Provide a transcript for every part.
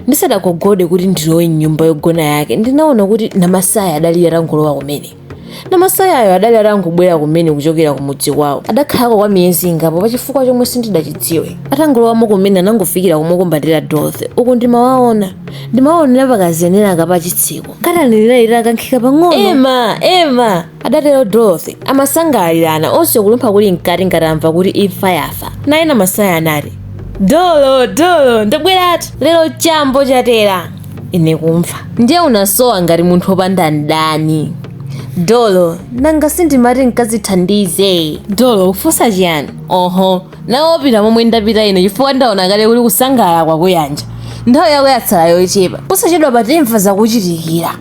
ndisadagogode kuti ndilowe mnyumba yogona yake ndinaona kuti namasaya adali atangolowa kumene namasayayo adali atangobwera kumene kuchokera kumudzi kwawo adakhalako kwa miyezi ingapo pachifukwa chomwe sindidachidziwe atangolowamo kumene anangofikira kumukumbatira dorothy uku ndimawaona ndimawaonera pakazenera kapachitseko katani ili itakankhika pang'ono ema ema adatero dorothy amasangalalirana onse kulumpha kuli mkati ngati amva kuti imfa yafa naye namasaya anati dolo dolo ndabweratu lero chambo chatera ine kumva ndiye unasowa ngati munthu opanda mdani dolo nanga sindimati nkazithandize dolo ufunsa chiyani oho nawe opita momwe ndapita ine chifukwa ndaona kale kuti kusangalala kwakuyanja, nthawi yako yatsala yochepa posachedwapa timva zakuchitikira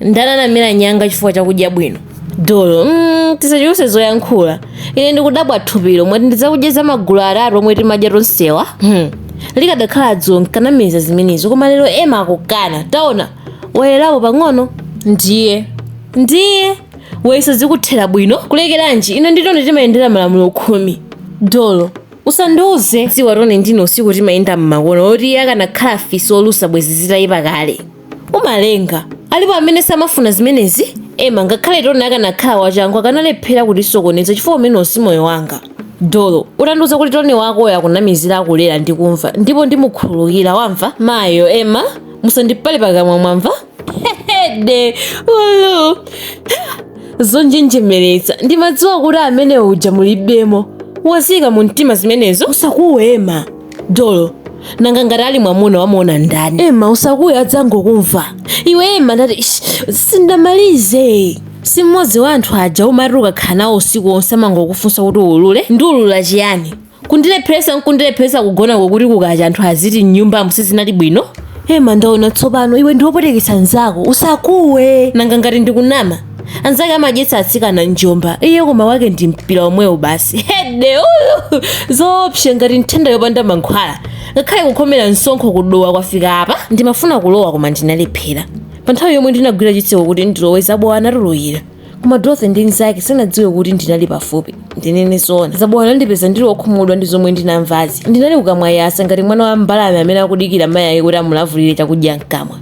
ndani anamera nyanga chifukwa chakudya bwino dolo mm, tisachuluse zoyankhula ine ndikudabwa thupilo mwati ndi zakudya za magulu atatu omwe timadya tonsewa hmm. likadakhala dzulo nkanamiza zimenezo koma lero ema akukana taona wayerako pang'ono ndiye ndiwe wa izo zikuthera bwino kulekeranji ine ndi tony timayendera malamulo khumi dolo usandiuze za tony ndiye usiku timayenda mmakomo oti akanakhala fisi olusa bwezi zitayipa kale umalenga. Alipo amene samafuna zimenezi? Emma, ngakhale Tony akanakhala wachangu akanalephera kutisokoneza chifukwa umenewo si moyo wanga. Dolo, ukandiuza kuti Tony wakoyo akunamizira akulera, ndikumva ndipo ndimukhululukira wamva? Mayo, Emma, musandipale pakamwa mwamva? Hehede, ulu. Zonjenjemeretsa, ndimadziwa kuti amene uja mulibemo. Waziika mu mtima zimenezo? Usakuwe Emma. dolo nanga ngati ali mwamuna wamuona ndani ema usakuwe adzangokumva iwe ema ndati sindamalize si mmodzi wa anthu aja umati ukakhala nawo usiku wonse amangokufunsa kuti ulule ndiulula chiyani kundilepheresa nkundilepheresa kugonako kuti kukacha anthu aziti mnyumbamo sizinali bwino ema ndaona tsopano iwe ndi wopweteketsa nzako usakuwe nanga ngati ndikunama anzake amadyetsa atsikana nsomba iye koma wake ndi mpira omwewu basi hede ulu zoopsa ngati nthenda yopanda mankhwala ngakhale kukhomera msonkho kudowa kufika apa ndimafuna kulowa koma ndinalephera pa nthawi yomwe ndinagwira chitseko kuti ndilowe zabowa anatulukira koma dorothy ndi nzake sanadziwe kuti ndinali pafupi ndinene zoona zabowa anandipeza ndili okhumudwa ndi zomwe ndinamvazi ndinali kukamwa yasa ngati mwana wa mbalame amene akudikira mayi ake kuti amulavulire chakudya mkamwa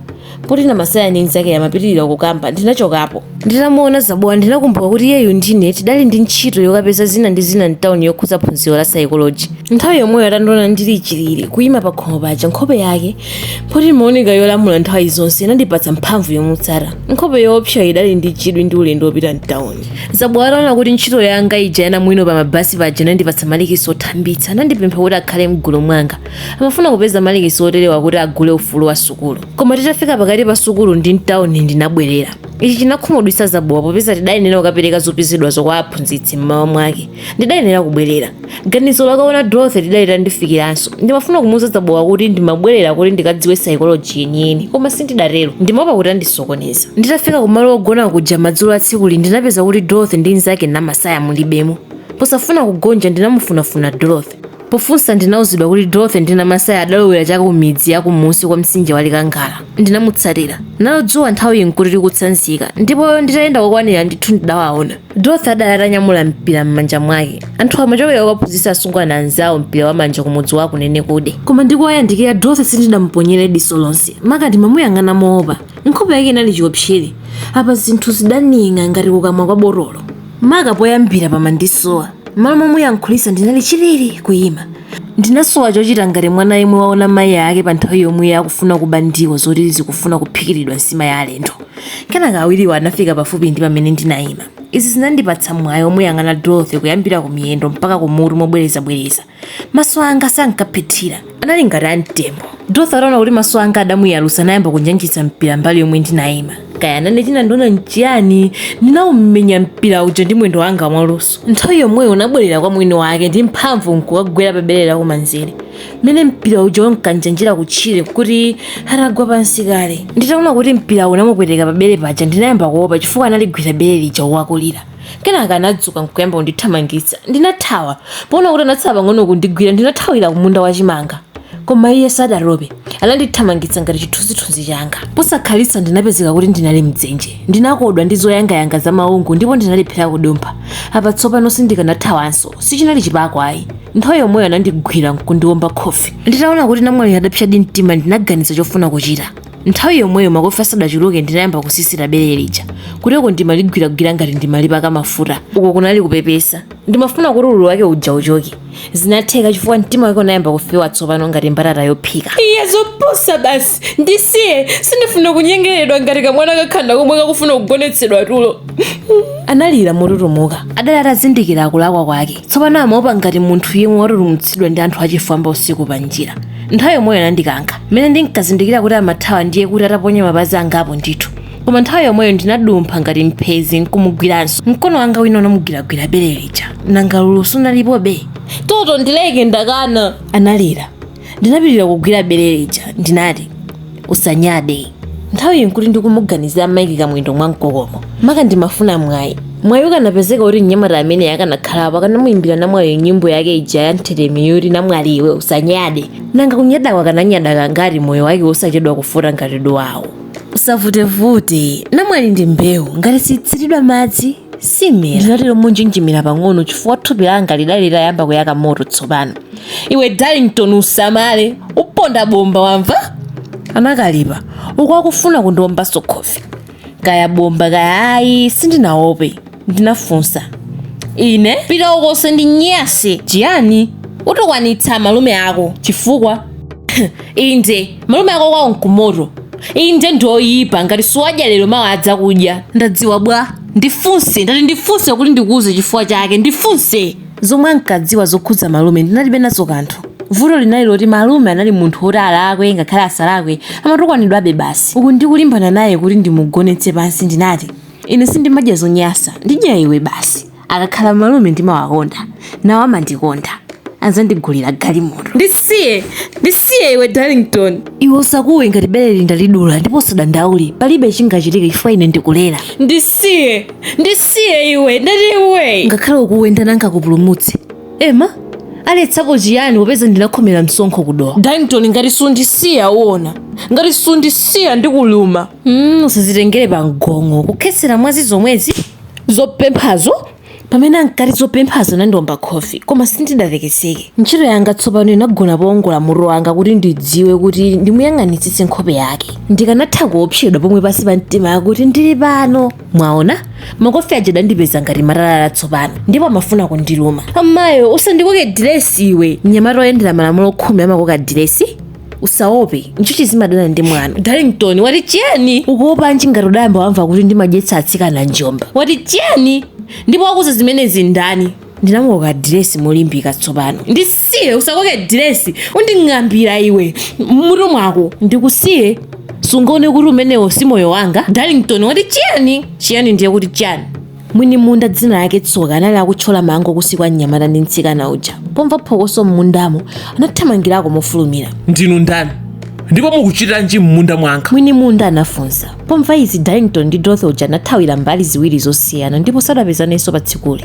poti namasaya ndi mnzake amapitirira kukamba ndinachokapo nditamuona zabowa ndinakumbuka kuti iyeyu ndine tidali ndi ntchito yokapeza zina ndi zina mtawuni yokhudza phunziro la saikoloji nthawi yomweyo atandiona ndili chilili kuyima pa khomo paja nkhope yake poti imaoneka yolamula nthawi zonse inandipatsa mphamvu yomutsata nkhope yoopsa idali ndi chidwi ndi ulendo wopita mtawuni zabowa ataona kuti ntchito yanga ija yanamwino pa mabasi paja inandipatsa malikisi othambitsa anandipempha kuti akhale mgulu mwanga Amafuna kupeza malikisi oterewa kuti agule ufulu wa sukulu. Koma titafika pakati pa sukulu ndi m'tauni ndinabwerera. Ichi chinakhumudwitsa Zabowa popeza tidayenera kukapereka zopezedwazo kwa aphunzitsi m'mawa mwake. Ndidayenera kubwerera. Ganizo lokaona Dorothy lidali litandifikiranso. Ndimafuna kumuuza Zabowa kuti ndimabwerera kuti ndikadziwe saikoloji yeniyeni, koma sindidatero. Ndimaopa kuti andisokoneza. Nditafika kumalo ogona kuja madzulo a tsikuli ndinapeza kuti Dorothy ndi mnzake Namasaya mulibemo. Posafuna kugonja ndinamufunafuna Dorothy. Pofunsa ndinauzidwa kuti Dorothy ndi Namasaya adalowera cha ku midzi ya kumunsi kwa mtsinje wa Likangala. Ndinamutsatira. Nalo dzuwa nthawiyi n'kuti likutsanzika, ndipo nditayenda kokwanira ndithu ndidawaona. Dorothy adali atanyamula mpira m'manja mwake. Anthuwa amachokera kokaphunzitsa asungwana anzawo mpira wa manja kumudzi wa Kunenekude. Koma ndikuwayandikira, Dorothy sindinamuponyere diso lonse, maka ndimamuyang'ana moopa. Nkhope yake inali chiwopsere. Apa zinthu zidaning'a ngati kukamwa kwa botolo. maka poyambira pamandisowa m'malo momuyankhulitsa ndinali chilili kuyima ndinasowa chochita ngati mwana yemwe waona mayi ake pa nthawi yomwe akufuna kuba ndiwo zoti zikufuna kuphikiridwa nsima ya alendo kenaka awiriwo anafika pafupi ndi pamene ndinayima izi zinandipatsa mwayi omuyang'ana dorothy kuyambira ku miyendo mpaka ku mutu mobwerezabwereza Maso anga sankaphethira, anali ngati a mtembo. Dorothy ataona kuti maso anga adamuyalusa anayamba kunjanjitsa mpira mbali yomwe ndinaima. Kaya nane chinandiona n'chiyani, ndinaumenya mpira uja ndi mwendo wanga mwaluso. Nthawi yomweyo unabwerera kwa mwini wake ndi mphamvu n'kukagwera pa bere lakumanzere, mmene mpira uja unkanjanjira kutchire n'kuti atagwa pansi kale. Nditaona kuti mpira unamupweteka pa bere paja ndinayamba kuopa chifukwa analigwira bere lija wakulira. kenaka anadzuka nkuyamba kundithamangitsa ndinathawa poona kuti anatsala pang'ono kundigwira ndinathawira kumunda wa chimanga koma iye sadatope anandithamangitsa ngati chithunzithunzi changa posakhalitsa ndinapezeka kuti ndinali mdzenje ndinakodwa ndi zoyangayanga za maungu ndipo ndinalephera kudumpha apa tsopano sindikanathawanso sichinali chipako ayi nthawi yomweyo anandigwira nkundiwomba khofi nditaona kuti namwali adapsadi mtima ndinaganiza chofuna kuchita Nthawi yomweyo makofi asadachuluke ndinayamba kusisita bere lija. Kuteroko ndimaligwiragwira ngati ndimalipaka mafuta. Uko kunali kupepesa. Ndimafuna kuti ululu wake uja uchoke. Zinatheka chifukwa mtima wake unayamba kufewa tsopano ngati mbatata yophika. Iya zopusa basi. Ndisiye, sindifuna kunyengeredwa ngati kamwana kakhanda komwe kakufuna kugonetsedwa tulo. Analira motutumuka. Adali atazindikira kulakwa kwake. tsopano amaopa ngati munthu yemwe watutumutsidwa ndi anthu achifwamba usiku pa njira nthawi yomweyo anandikankha mmene ndinkazindikira kuti amathawa ndiye kuti ataponya mapazi angapo ndithu koma nthawi yomweyo ndinadumpha ngati mphezi nkumugwiranso mkono wanga wina unamugwiragwira bere lija nanga ululu sunalipobe toto ndileke ndakana analira ndinapitira kugwira bere lija ndinati usanyade nthawiyi nkuti ndikumuganizira maiki kamwendo mwa mkokomo maka ndimafuna mwayi mwayi ukanapezeka kuti mnyamata amene akanakhalapo akanamuyimbira namwaliyo nyimbo yake ija ya mtheremi yoti namwali iwe usanyade nanga kunyadako akananyada kangati moyo wake wosachedwa kufota ngati duwawo usavutevute namwali ndi mbewu ngati sitsiridwa madzi simera ndinatero monjenjemera pang'ono chifukwa thupi langa lidali litayamba kuyaka moto tsopano iwe darlington usamale uponda bomba wamva anakalipa uku akufuna kundiombanso khofi kaya bomba kaya ayi sindinaope ndinafunsa ine pita uko usandinyase chiyani utukwanitsa malume ako chifukwa inde malume ako kwawo nkumoto inde ndi oyipa ngati suwadya lero mawa adzakudya ndadziwa bwa ndifunse ndati ndifunse kuti ndikuuze chifukwa chake ndifunse zomwe ankadziwa zokhudza malume ndinalibe nazo kanthu vuto linali loti malume anali munthu woti alakwe ngakhale asalakwe amatukwanidwabe basi uku ndikulimbana naye kuti ndimugonetse pansi ndinati ine sindimadya zonyasa ndidya iwe basi akakhala malume ndimawakonda nawo amandikonda adzandigulira galimoto ndisiye ndisiye iwe darlington iwe usakuwe ngati bereli ndalidula ndipo usadandaule palibe chingachitike chifukwa ine ndikulera ndisiye ndisiye iwe ndati iwe ngakhale ukuwe ndani angakupulumutse ema aletsapo chiyani popeza ndinakhomera msonkho ku dowa darlington ngati sundisiya uona ngati sundisiya ndikuluma mm, usazitengere pa mgong'o kukhetsera mwazi zomwezi zopemphazo pamene ankati zopemphazo anandiomba khofi koma sindidatekeseke ntchito yanga tsopano inagona powongola mutu wanga kuti ndidziwe kuti ndimuyang'anitsitse nkhope yake ndikanatha kuopsedwa pomwe pansi pa mtima akuti ndili pano mwaona makofi aja adandipeza ngati matalala tsopano ndipo amafuna kundiluma amayo usandikoke diresi iwe mnyamata oyendera malamulo khumi amakoka diresi usaope njuchi zimadana ndi mwana darlington wati chiyani ukuopanji ngati udayamba wamva kuti ndimadyetsa atsikana njomba wati chiyani ndipo wakuuza zimenezi ndani ndinamukoka diresi molimbika tsopano ndisiye usakoke diresi unding'ambira iwe m'mutu mwako ndikusiye sungaone kuti umenewo si moyo wanga darlington wati chiyani chiyani ndiye kuti chiyani mwini munda dzina lake tsoka anali akutchola mango kunsi kwa mnyamata ndi mtsikana uja pomva phokoso m'mundamo anathamangirako mofulumira ndinu ndani ndipo mukuchitanji m'munda mwanga mwini munda anafunsa pomva izi darlington ndi dorothy uja anathawira mbali ziwiri zosiyana ndipo sadapezanenso pa tsikuli